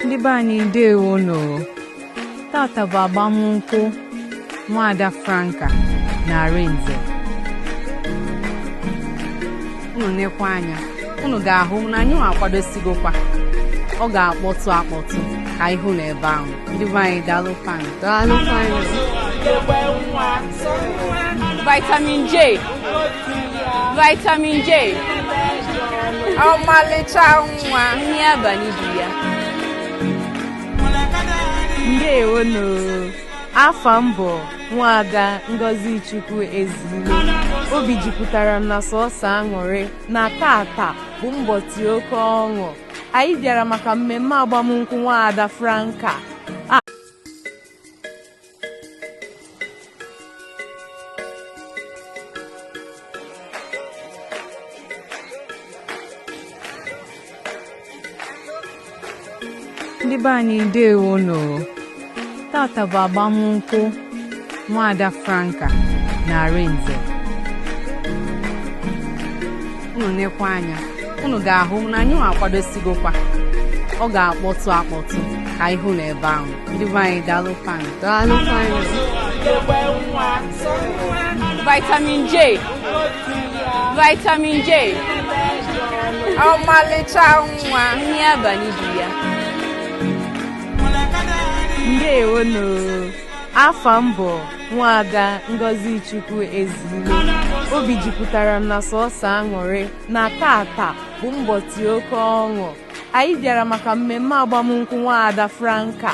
ndị be anyị ndewo nụ tata bụ agbamnkwụ nwaada Franca na Arinze unu nekwa anya unu ga-ahụ na anyị nwa akwadosigokwa ọ ga-akpọtụ akpọtụ ka ị hụ n'ebe ahụ ndị be anyị daalụ fani daalụ fani vitamin J vitamin J ọmalịcha nwa nri abalị di ya ndewonu afa m bụ nwaada Ngozi Chukwu Ezilo obi jupụtara m na sọsọ aṅụrị na tata bụ mbọtị oke ọṅụ anyị bịara maka mmemme agbamnkwụ nwaada Franca ndị be anyị ndewo nụ tata bụ agbamnkwụ nwaada Franca na Arinze unu nekwa anya unu ga-ahụ na anyị nwa akwadosigokwa ọ ga-akpọtụ akpọtụ ka ị hụ na ebe ahụ ndị be anyị daalụ fani daalụ fani vitamin J vitamin J ọmalịcha nwa nri abalị di ya ndewonu afa m bụ nwaada Ngozi Chukwu Ezilo obi jupụtara m na sọsọ aṅụrị na tata bụ mbọtị oke ọṅụ anyị bịara maka mmemme agbamnkwụ nwaada Franca